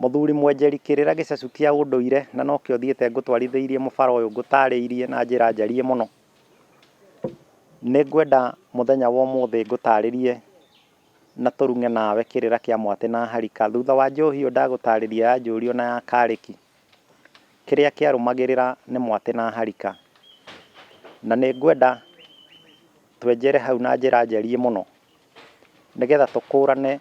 Mũthuri mwenjeri kĩrĩra gĩcacũ kĩa ũndũire na nokĩo thiĩte ngũtwarithĩirie mũbara ũyũ ngũtarĩirie na njĩra njariĩ mũno. Nĩ ngwenda mũthenya wa ũmũthĩ ngũtarĩrie na tũrung'e nawe kĩrĩra kĩa mwatĩ na harika. Thutha wa njohi ĩyo ndagũtarĩria ya njũriũ na ya karĩki, kĩrĩa kĩarũmagĩrĩra nĩ mwatĩ na harika. Na nĩ ngwenda twenjere hau na njĩra njariĩ mũno. nĩgetha tũkũrane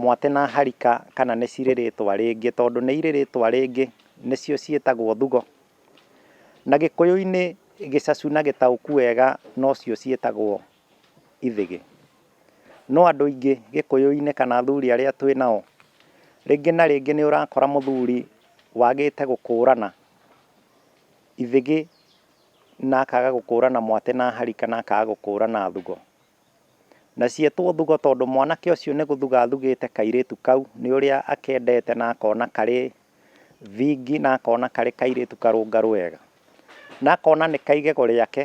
mwatĩ na harika kana nĩ cirĩ rĩtwa rĩngĩ, tondũ nĩ irĩ rĩtwa rĩngĩ nĩcio ciĩtagwo thugo, na gĩkũyũ-inĩ gĩcacu na gĩtaũku wega nocio ciĩtagwo ithĩgĩ. No andũ aingĩ gĩkũyũ-inĩ kana athuri arĩa twĩ nao, rĩngĩ na rĩngĩ nĩ ũrakora mũthuri wagĩte gũkũrana ithĩgĩ na akaga gũkũrana mwatĩ na harika na akaga gũkũrana thugo. Na cietwo thugo tondũ mwanake ũcio nĩ gũthuga athugĩte kairĩtu kau nĩ ũrĩa akendete na akona karĩ thingi na akona karĩ kairĩtu karũngarũ wega. Na akona nĩ ka igego rĩake.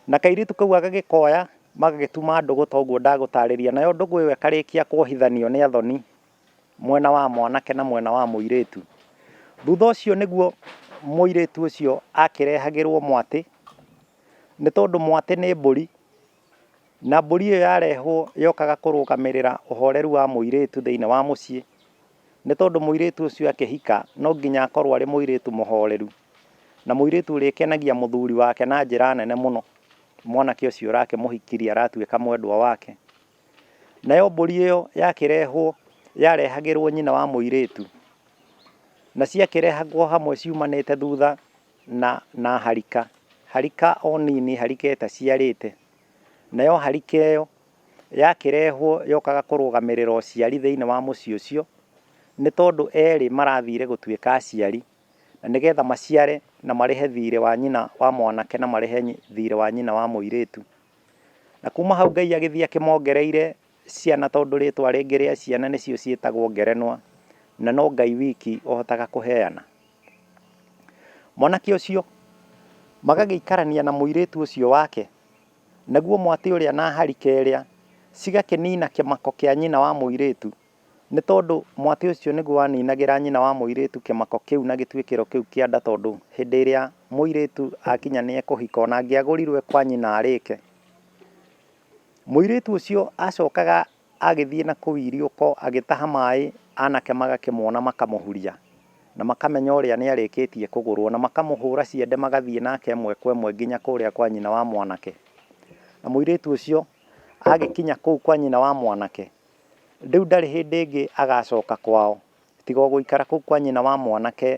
Na kairĩtu kau agagĩkoya magagĩtuma ndũgũ ta ũguo ndagũtarĩria. Nayo ndũgũ ĩyo ĩkarĩkia kuohithanio nĩ athoni mwena wa mwanake na mwena wa mũirĩtu. Thutha ũcio nĩguo mũirĩtu ũcio akĩrehagĩrwo mwatĩ. Nĩ tondũ mwatĩ nĩ mbũri, na mbũri ĩyo yarehwo yokaga kũrũgamĩrĩra ũhoreru wa mũirĩtu thĩinĩ wa mũciĩ, nĩ tondũ mũirĩtu ũcio akĩhika no nginya akorwo arĩ mũirĩtu mũhoreru, na mũirĩtu ũrĩkenagia mũthuri wake na njĩra nene mũno, mwanake ũcio ũrakĩmũhikirie aratuĩka mwendwa wake. Nayo mbũri ĩyo yakĩrehwo yarehagĩrwo nyina wa mũirĩtu, na ciakĩrehagwo hamwe ciumanĩte thutha. na na harika, harika o nini, harika ĩtaciarĩte. Nayo harika ĩyo yakĩrehwo yokaga kũrũgamĩrĩra ũciari thĩinĩ wa mũciĩ ũcio, nĩ tondũ erĩ marathire gũtuĩka aciari, na nĩgetha maciare na marĩhe thiirĩ wa nyina wa mwanake na marĩhe thiirĩ wa nyina wa mũirĩtu. Na kuma hau Ngai agĩthiĩ akĩmongereire Ciana tondũ rĩĩtwa rĩngĩ rĩa ciana nĩcio ciĩtagwo ngerenwa na no Ngai wiki ũhotaga kũheana. Mwanake ũcio magagĩikarania na mũirĩtu ũcio wake, naguo mwatĩ ũrĩa na harika ĩrĩa cigakĩnina kĩmako kĩa nyina wa mũirĩtu, nĩ tondũ mwatĩ ũcio nĩguo waninagĩra nyina wa mũirĩtu kĩmako kĩu na gĩtuĩkĩro kĩu kĩa nda tondũ hĩndĩ ĩrĩa mũirĩtu akinya nĩ ekũhika o na angĩagũrirwo e kwa nyina arĩke, Mũirĩtu ũcio aacokaga agĩthiĩ na kũu iriũko agĩtaha maĩ, anake magakĩmuona makamũhuria, na makamenya ũrĩa nĩ arĩkĩtie kũgũrũo, na makamũhũũra ciande magathiĩ nake ĩmwe kwa ĩmwe nginya kũrĩa kwa nyina wa mwanake. Na mũirĩtu ũcio agĩkinya kũu kwa nyina wa mwanake, rĩu ndarĩ hĩndĩ ĩngĩ agacoka kwao, tiga o gũikara kũu kwa nyina wa mwanake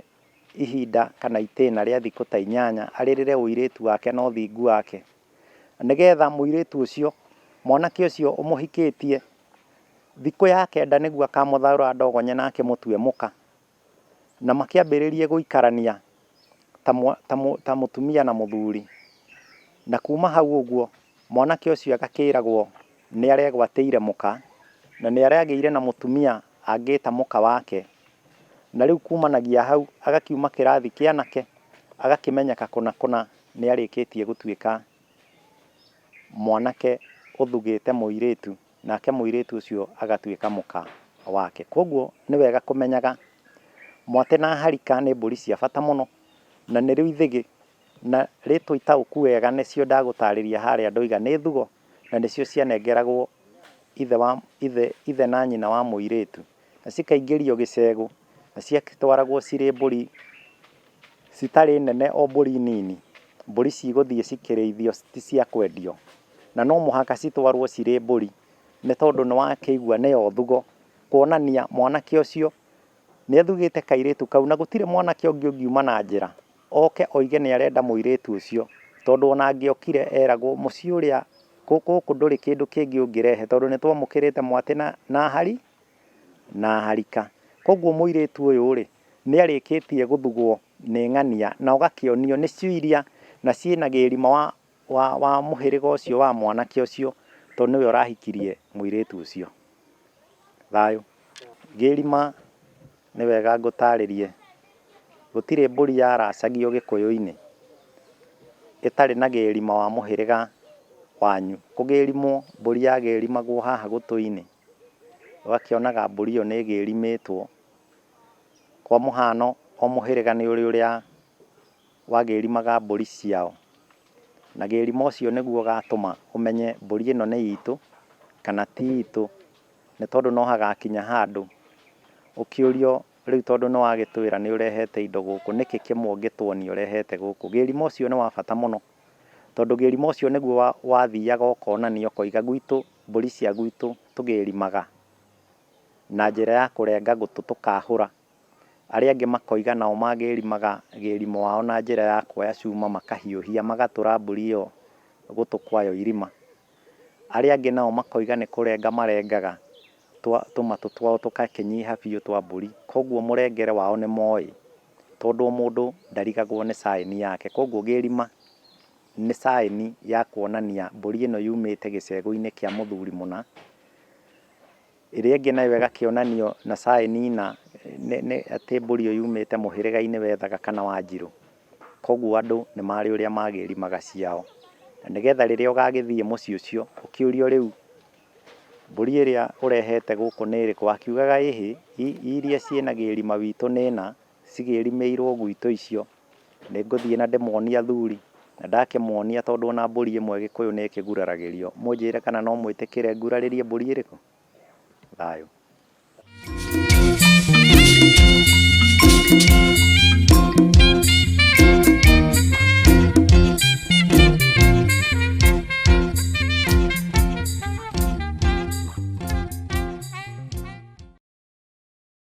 ihinda kana itĩna rĩa thikũ ta inyanya, arĩrĩre ũirĩtu wake na ũthingu wake. nĩgetha mũirĩtu ũcio, mwanake ũcio ũmũhikĩtie, thikũ ya kenda nĩguo akamũtharũra ndogo nyene na akĩmũtue mũka, na makĩambĩrĩrie gũikarania ta mũtumia na mũthuri. Na kuma hau ũguo, mwanake ũcio agakĩragwo nĩ arĩa egwatĩire mũka, na nĩ arĩa agĩire na mũtumia angĩta mũka wake. Na rĩu kumanagia hau, agakiuma kĩrathi kĩa anake, agakĩmenyeka kũna kũna. Nĩ arĩkĩtie gũtuĩka mwanake ũthugĩte mũirĩtu, nake mũirĩtu ũcio agatuĩka mũka wake. Kwoguo nĩ wega kũmenyaga mwatĩ na harika nĩ mbũri cia bata mũno, na nĩrĩo ithĩgĩ, na rĩtwa itaũku wega nĩcio ndagũtarĩria harĩa ndoiga nĩ thugo, na nĩcio cianengeragwo ithe wa, ithe, ithe na nyina wa mũirĩtu. na cikaingĩrio gĩcegũ, na cigagĩtwaragwo cirĩ mbũri citarĩ nene o mbũri nini, mbũri cigũthiĩ cikĩrĩithio ti cia kwendio, na no mũhaka citwarwo cirĩ mbũri, nĩ tondũ nĩ wakĩigua nĩ othugo, kuonania mwanake ũcio nĩ athugĩte kairĩtu kau, na gũtirĩ mwanake ũngĩ ũngiuma na njĩra. Oke oige nĩ arenda mũirĩtu ũcio. Tondũ o na angĩokire, eragwo, Mũciĩ ũrĩa, gũkũ ndũrĩ kĩndũ kĩngĩ ũngĩrehe, tondũ nĩ twamũkĩrĩte mwatĩ na, na hari, na harika. Kwoguo mũirĩtu ũyũ-rĩ, nĩ arĩkĩtie gũthugwo nĩ ng'ania, na ũgakĩonio nĩcio iria, na ciĩ na gĩĩrima wa, wa, wa mũhĩrĩga ũcio wa mwanake ũcio, tondũ nĩwe ũrahikirie mũirĩtu ũcio. Thayũ. Ngĩrima, nĩ wega ngũtarĩrie, gũtirĩ mbũri yaracagio Gĩkũyũ-inĩ ĩtarĩ na gĩrima wa mũhĩrĩga wanyu. Kũgĩrimwo, mbũri yagĩrimagwo haha gũtũ-inĩ, ũgakĩonaga mbũri ĩyo nĩ ĩgĩrimĩtwo. Kwa mũhano, o mũhĩrĩga nĩ ũrĩ ũrĩa... wa gerima ga mbũri ciao, na gerima ũcio nĩguo ũgatũma ũmenye mbũri ĩno nĩ itũ kana ti itũ, nĩ tondũ no hagakinya handũ ũkĩũrio rĩu tondũ nĩ wagĩtwĩra nĩ ũrehete indo gũkũ nĩkĩ kĩmwe ũngĩtuonia ũrehete gũkũ. Gerima ũcio nĩ wa bata mũno tondũ gerima ũcio nĩguo wathiaga ũkonania ũkoiga gwitũ mbũri cia gwitũ tũgerimaga na njĩra ya kũrenga gũtũ tũkahũra. Arĩa angĩ makoiga nao magĩrimaga gĩrimo wao na njĩra ya kuoya cuma makahiũhia magatũra mbũri ĩyo gũtũ kwayo irima. Arĩa angĩ nao makoiga nĩ kũrenga marengaga tũmatũ twao tũgakĩnyiha biũ twa mbũri. Kwoguo mũrengere wao nĩ moĩ tondũ o mũndũ ndarigagwo nĩ caĩni yake. Kwoguo gĩrima nĩ caĩni ya kuonania mbũri ĩno yumĩte gĩcegũ-inĩ kĩa mũthuri mũna. Ĩrĩa ĩngĩ nayo ĩgakĩonanio na caĩni ina atĩ mbũri ĩyo yumĩte mũhĩrĩga-inĩ wa Ethaga kana Wanjirũ. Koguo andũ nĩ marĩ ũrĩa magĩrimaga ciao. Na nĩgetha rĩrĩa ũgagĩthiĩ mũciĩ ũcio ũkĩũrio rĩu mbũri ĩrĩa ũrehete gũkũ nĩ ĩrĩkũ, wakiugaga ĩhĩ, iria ciĩ na gĩrima witũ nĩ ĩna, cigĩrimĩirwo gwitũ icio, Nĩ ngũthiĩ na ndĩmonie athuri. Na ndakĩmonia tondũ o na mbũri ĩmwe Gĩkũyũ nĩ ĩkĩguraragĩrio. Mũnjĩre kana no mwĩtĩkĩre ngurarĩrie mbũri ĩrĩkũ? Thayũ.